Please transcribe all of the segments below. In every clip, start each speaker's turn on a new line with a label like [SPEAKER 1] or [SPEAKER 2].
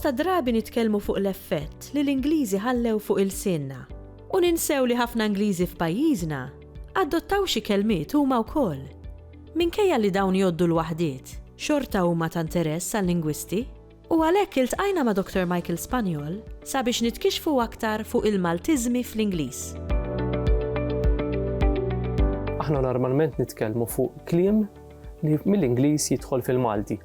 [SPEAKER 1] Bosta drabi nitkellmu fuq l-effett li l-Ingliżi ħallew fuq ilsienna u ninsew li ħafna Ingliżi f'pajjiżna adottaw xi kelmiet huma wkoll. Minkejja li dawn jgħoddu l-waħdiet, xorta huma ta' interess għal-lingwisti. U għalhekk iltqajna ma' Dottor Michael Spanjol sabiex nitkixxfu aktar fuq il-Maltiżmi fl-Ingliż.
[SPEAKER 2] Aħna normalment nitkellmu fuq kliem li mill-Ingliż jidħol fil-Malti.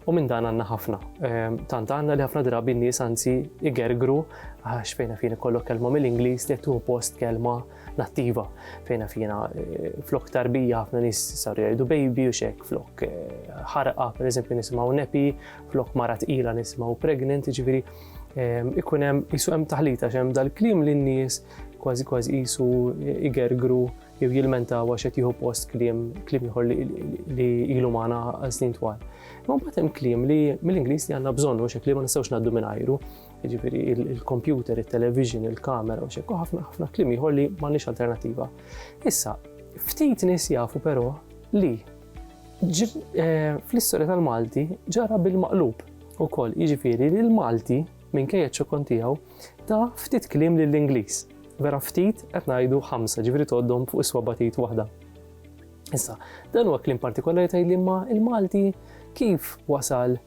[SPEAKER 2] U minn dan għandna ħafna. Ehm, tant għandna li ħafna drabi n-nies anzi igergru għax fejna fina kollok kelma mill-Ingliż li qed post kelma nattiva fejn naf jiena eh, flok tarbija ħafna nies saru jgħidu baby u xek flok eh, ħarqa per eżempju nisimgħu nepi, flok mara tqila nisimgħu pregnant, ġifieri ehm, ikun hemm isu hemm taħlita x'hemm dal-kliem li n-nies kważi kważi isu eh, igergru jew jilmentaw għax qed jieħu post kliem kliem ieħor li ilu magħna għal snin twal. Ma mbagħad hemm kliem li mill-Ingliż li għandna bżonn u xi kliem ma nistgħux ngħaddu minn jiġifieri il-kompjuter, it-television, il-kamera u xekku ħafna ħafna kliem ieħor li m'għandniex alternattiva. Issa, ftit nies jafu però li eh, fl-istorja tal-Malti ġara bil-maqlub ukoll, jiġifieri li l-Malti minkejja ċokon tiegħu ta' ftit kliem lill-Ingliż. Vera ftit qed ngħidu ħamsa ġifieri toddhom fuq is-swaba tgħid waħda. Issa, dan huwa kliem partikolari tgħid li ma il-Malti kif wasal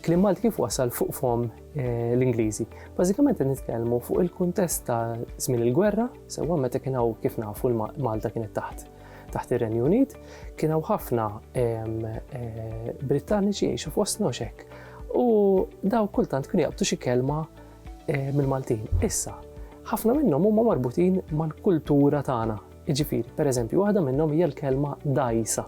[SPEAKER 2] Kliem Malti kif wasal fuq fom l-Ingliżi? Bażikament qed nitkellmu fuq il-kuntest ta' żmien il-gwerra, sewwa meta kien hawn kif nafu l-Malta kienet taħt taħt ir-Renju Unit, kien hawn ħafna eh, Brittaniċi jgħixu fost noxek. U daw kultant kienu jaqbtu xi kelma eh, mill-Maltin. Issa, ħafna minnhom huma marbutin mal-kultura tagħna. Jiġifieri, pereżempju, waħda minnhom hija l-kelma dajsa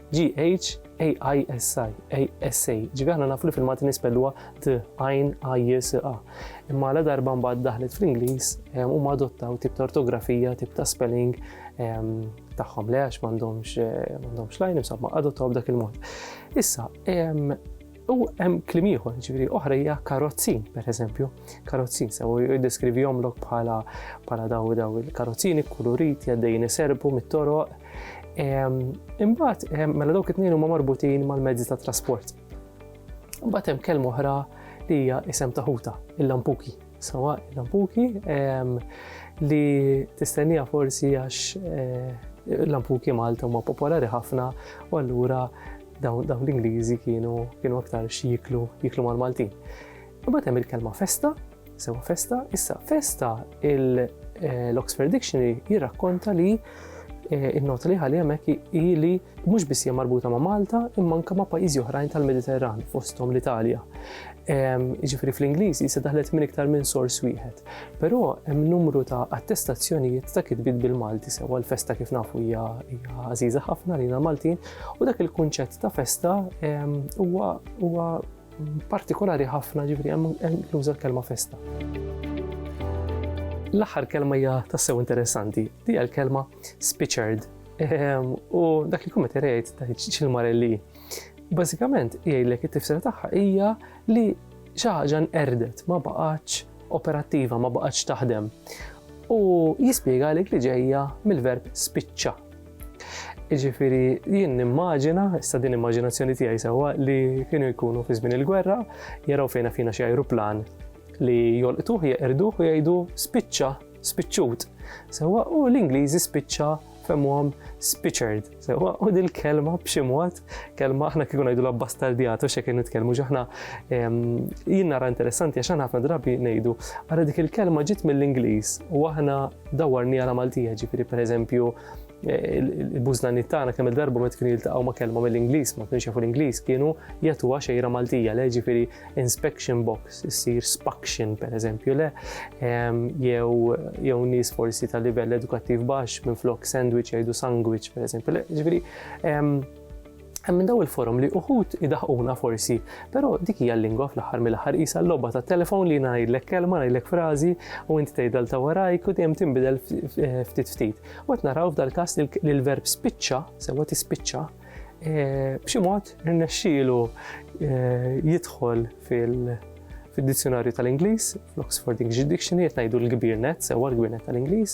[SPEAKER 2] G-H-A-I-S-I, A-S-A, ġivi aħna nafu li fil-Malti nispelluha d-għajn A-J-S-A. Imma la darba mbagħad daħlet fl-Ingliż ehm, huma adottaw tip ta' ortografija, tip ta' spelling ehm, tagħhom le għax m'għandhomx eh, m'għandhomx lajn, insomma adottaw b'dak il-mod. Issa, ehm, U hemm klim ieħor, ġifieri oħra hija karozzin, pereżempju, karozzin sew jiddeskrivihomlok bħala bħala daw daw il-karozzini kulurit jaddejjin iserbu mit-toroq. Ehm, imbagħad ehm, mela dawk it-tnejn huma marbutin mal-mezzi ta' trasport. Imbagħad hemm kelm oħra li hija isem ta' ħuta, il-lampuki. Sawa il-lampuki ehm, li tistennija forsi għax eh, lampuki Malta huma popolari ħafna u allura Dawn dawn l-Ingliżi kienu kienu aktar x'jiklu jiklu mal-Maltin. Imbagħad hemm il-kelma festa, sewa festa, issa festa eh, l-Oxford Dictionary jirrakkonta li eh, il-nota li ħalli hemmhekk hi li mhux biss hija marbuta ma' Malta imma anke ma' pajjiżi oħrajn tal-Mediterran fosthom l-Italja. Jiġifieri fl-Ingliż jista' daħlet minn iktar minn sors wieħed. Però hemm numru ta' attestazzjonijiet ta' kitbiet bil-Malti sewa l-festa kif nafu hija għażiża ħafna lina Maltin U dak il-kunċett ta' festa huwa partikolari ħafna ġifri hemm inkluża l-kelma festa. L-aħħar kelma hija tassew interessanti, li hija l-kelma spiċerd. Ehm, u dak li kummet irejt ta' ċil-marelli. Bażikament jgħidlek it-tifsira tagħha hija li xi ħaġa nqerdet ma baqgħatx operattiva, ma baqgħatx taħdem. U jispjega għalik li ġejja mill-verb spiċċa Jiġifieri jien nimmaġina, issa din immaġinazzjoni tiegħi sewwa li kienu jkunu fi żmien il-gwerra, jaraw fejn fina xi ajruplan li jolqtuh jeqirduh u jgħidu spiċċa, spiċċut. Sewwa u l-Ingliżi spiċċa femmuhom spiċċerd. Sewwa u dil-kelma b'xi mod kelma aħna kieku ngħidu la bastardijato xe kien nitkellmu ġaħna jien nara interessanti għax aħna ħafna drabi ngħidu ara dik il-kelma ġiet mill-Ingliż u aħna dawarni għala Maltija ġifieri pereżempju eh, il-bużnani tagħna kemm il-darba ma kienu jiltaqgħu ma' kelma mill-Ingliż, ma kienx jafu l-Ingliż, kienu jagħtuha xejra Maltija, le ġifieri inspection box, issir spaction pereżempju, le jew jew nies forsi ta' livell edukattiv baxx minn flok sandwich jgħidu sandwich pereżempju, le ġifieri Hemm minn daw il-forum li uħud idaħquna forsi, però dik hija l-lingwa fl-aħħar mill-aħħar qisha l-logħba tat-telefon li ngħidlek kelma, ngħidlek frażi u inti tgħidel ta' warajk u dejjem tinbidel ftit ftit. U qed naraw f'dal-każ li l-verb spiċċa, sewwa tispiċċa, eh, b'xi mod irnexxielu eh, jidħol fil- fid-dizzjonarju tal-Ingliż, fl-Oxford English Dictionary, qed ngħidu l-kbir net, sewwa l-kbir net tal-Ingliż,